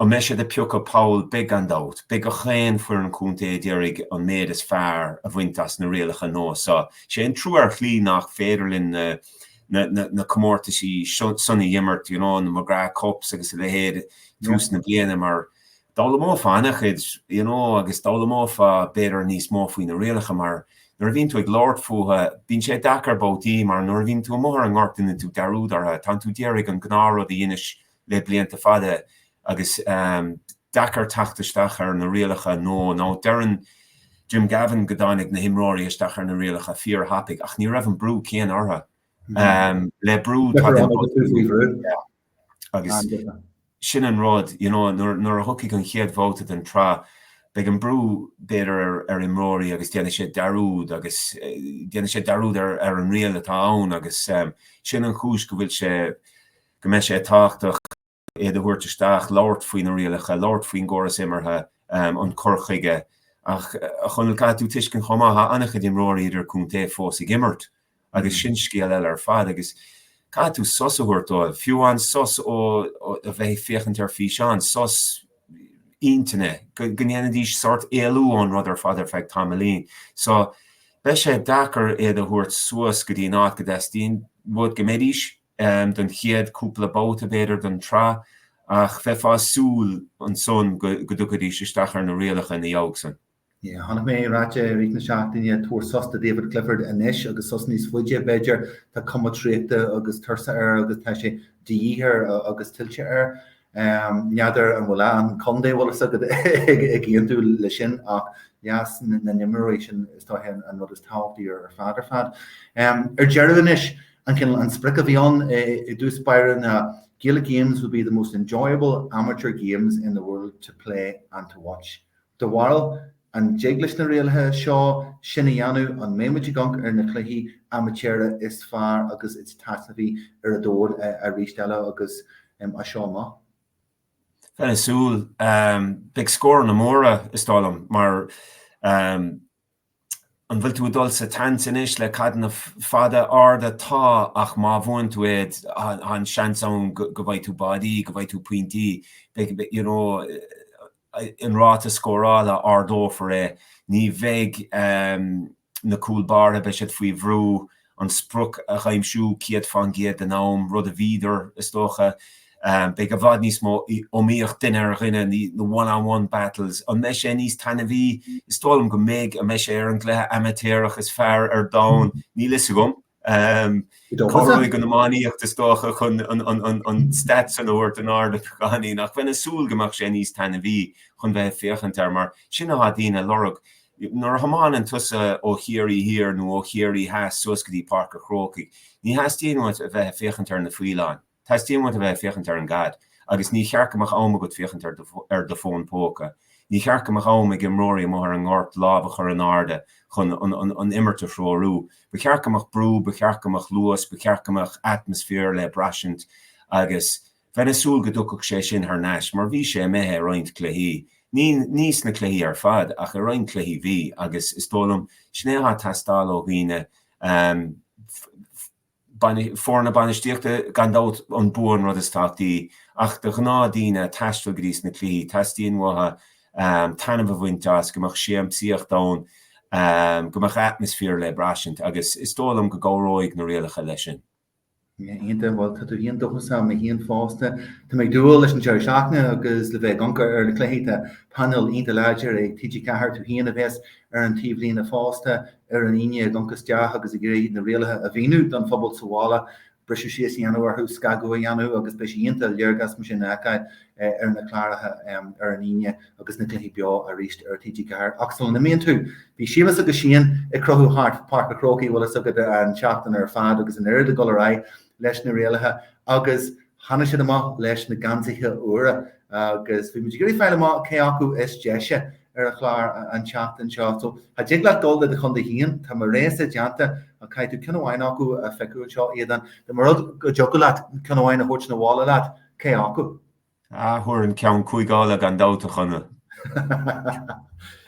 An mbeidh siad ag piocadh poll beidh gan dabht. Beidh gach aon foireann contae ag iarraidh an méid is fearr a bhaint as na rialacha nua seo. Is é an trua ar shlí nach féidir linn na comórtaisí san a dh'imirt, you know, na McGrath Cups agus a leithéid i dtús na bliana mar d'fhoghlaimeofá ana-chuid, you know, agus d'fhoghlaimeofá b'fhéidir níos mó faoi na rialacha mar nuair a bhíonn tú ag labhairt fútha, bíonn sé deacair babhtaí mar nuair a bhíonn tú amuigh ar an ngort déanann tú dearúd ortha, tánn tú d'iarraidh an gnáth rud a dheinis le blianta fada agus é deacair teacht isteach ar na rialacha nó nó deireann Jim Gavin go dtáinig na himreoirí isteach ar na rialacha fíorthapaidh ach ní raibh an brú céanna orthu. Le brú agus sin an rud you know nuair a thiocfaidh an chéad bhabhta den tsraith beidh an brú b'fhéidir ar imreoirí agus déanfaidh siad dearúd agus déanfaidh siad dearúd ar an riail atá ann agus sin an chúis go bhfuil sé go mbeidh sé tábhachtach iad a thabhairt isteach, labhairt faoi na rialacha, labhairt faoin gcóras imeartha, an cur chuige. Ach, a Chonaill, caithfidh tú tuiscint chomh maith, tá an-chuid imreoirí idirchontae fós ag imirt agus sin scéal eile ar fad agus caithfidh tú sos a thabhairt dóibh, fiú amháin sos ó a bheith ag féachaint ar físeán, sos intinne, go ndéanfaidís sórt éalú ón rud ar fad ar feadh tamaillín. So, beidh sé deacair iad a thabhairt suas go dtí an áit go dteastaíonn uait go mbeidís don chéad chúpla babhta, b'fhéidir, den tsraith, ach bheifeá ag súil ansan go dtiocfaidís isteach ar na rialacha ina dhiaidh san. Chonaic mé ráite i rith na seachtaine, tabhair sos do David Clifford anois agus sos níos faide, b'fhéidir, tá cuma traochta agus tuirse air agus tá sé de dhíth air agus tuillte air. N'fheadar an bhfuil an contae bhfuil fhios agat ag aontú leis sin ach leas na n-imreoirí sin is dóiche an rud is tábhachtaí ar fad ar fad. Ar deireadh anois, an cineál an sprioc a bhí ann i dtús báire ná Gaelic Games would be the most enjoyable amateur games in the world to play and to watch. Do bharúil, an dtig leis na rialacha seo sin a dhéanamh? An mbeimid ag amharc ar na cluichí amaitéaracha is fearr agus is taitneamhaí ar an domhan arís eile agus as seo amach? Bheinn ag súil. Beidh scóranna móra, is dóigh liom, mar. An bhfuil tú ag dul sa tseans anois le caideanna fada, arda? Tá, ach má bhuann tú é, tá an seans ann go bhfaighidh tú báidí, go bhfaighidh tú pointí, beidh, you know, an ráta scórála, ardófar é. Ní bheidh na cúl báire, beidh siad faoi bhrú an sprioc a dh'aimsiú 100% den am, rud a bhíodar, is dócha. Beidh i bhfad níos mó iomaíocht duine ar dhuine, na one on one battles. An mbeidh sé níos taitneamhaí? Is dóigh liom go mbeidh. An mbeidh sé ar an gcluiche amaitéarach is fearr ar domhan? Níl fhios agam. Cabhróidh an iománaíocht is dócha chun an stat san a thabhairt in airde go deimhin, ach bheinn ag súil go mbeadh sé níos taitneamhaí chun bheith ag féachaint air mar sin atá daoine a lorg. Nuair a thiomáineann tusa ó Chiarraí Thiar nó ó Chiarraí Theas suas go dtí Páirc a' Chrócaigh, ní theastaíonn uait a bheith ag féachaint ar na faoileáin, teastaíonn uait a bheith ag féachaint ar an gcaid agus ní cheart go mbeadh am agat féachaint ar do fón póca. Ní cheart go mbeadh am ag imreoirí amuigh ar an ngort lámh a chur in airde chun an imirt a threorú. Ba cheart go mbeadh brú, ba cheart go mbeadh luas, ba cheart go mbeadh atmaisféar le braistint agus, Bheinn ag súil go dtiocfadh sé sin thar n-ais mar bhí sé imithe i roinnt cluichí, ní sna cluichí ar fad ach i roinnt cluichí bhí agus is dóigh liom sin é atá ag teastáil ó dhaoine, foirne bainistíochta. Gan dabht an bua an rud is tábhachtaí ach do ghnáthdhaoine ag taisteal go dtí sna cluichí teastaíonn uathu taitneamh a bhaint as, go mbeadh siamsaíocht ann, go mbeadh atmaisféar le braistint agus is dóigh liom go gcabhróidh na rialacha leis sin. Iontach, bhuel, tá tú héin dóchasach, tá mé héin fosta. Tá mé ag dúil leis an deireadh seachtaine agus le bheith ag amharc ar na cluichí tá painéal iontach láidir ag TG4 tú héin a bheas ar an taobhlíne fosta ar an Aoine ag amharc isteach agus ag iarraidh na rialacha a mhíniú don phobal sa bhaile briseadh síos a dhéanamh orthu scagadh a dhéanamh agus beidh sé iontach léargas mar sin a fheiceáil ar na cláracha ar an Aoine agus na cluichí beo arís ar TG4. Ach sula n-imíonn tú, bhí Séamus Ó Scanláin ag crochadh thart Páirc an Chrócaigh, bhfuil fhios agat, an tseachtain ar fad agus an oiread ag gabháil ar aghaidh leis na rialacha agus tháinig siad amach leis na geansaithe úra agus bhí muid ag iarraidh fáil amach cé acu is deise ar an chlár an tseachtain seo. So cha dtig leat gabháil le do chontae féin, tá mo rogha-sa déanta ach caithfidh tú ceann amháin acu a phiocadh anseo Aodán, dá mba rud go dtiocfadh leat ceann amháin a thabhairt 'na bhaile leat. Cé acu? Ah, thabharfainn an ceann cúige Uladh gan dabht, a Chonaill.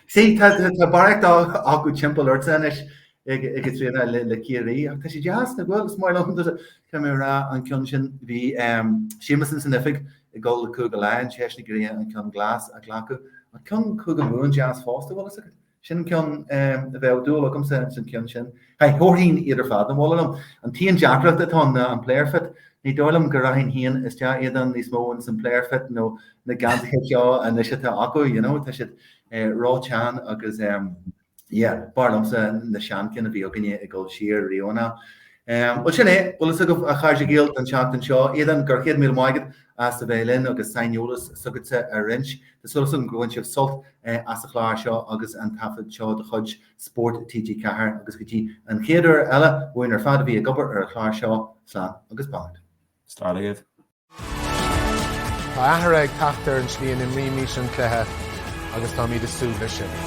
Sea, tá barraíocht ama timpeall ortsa anois ag Caitríona le Ciarraí ach tá sé deas nach bhfuil, is maith liom go raibh mé ag rá an ceann sin, bhí Séamus ins an oifig ag gabháil le Cúige Laighean, Séamus Ó Grianna an ceann glas a ghlacadh, an ceann Cúige Mumhan deas fosta, an bhfuil fhios agat? Sin an ceann a mbeadh dúil agamsa ins an ceann sin. Haigh, thabharfainn iad ar fad abhaile liom. An t-aon deacracht atá ann ná an player fit. Ní dóigh liom go raghainn féin isteach ann níos mó ins an player fit nó na geansaithe seo anois atá acu, you know, tá siad rótheann agus yeah, b'fhearr liomsa na seanchinn a bhí againne ag dul siar riamh ná. Bhuel sin é, bhuel sin agaibh a chairde Gael don tseachtain seo. Aodán, go raibh céad míle maith agat as a bheith linn agus saineolas s'agatsa a roinnt. Tá súil againn gur bhain sibh sult as an chlár seo agus an taifead seo de chuid Spórt TG4 agus go dtí an chéad uair eile, uainn ar fad a bhí ag obair ar an chlár seo, slán agus beannacht. Slán agaibh. Tá athrú ag teacht ar an tslí a n-imrímid an cluiche agus táimid ag súil leis sin.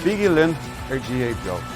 Bígí linn ar GAA beo!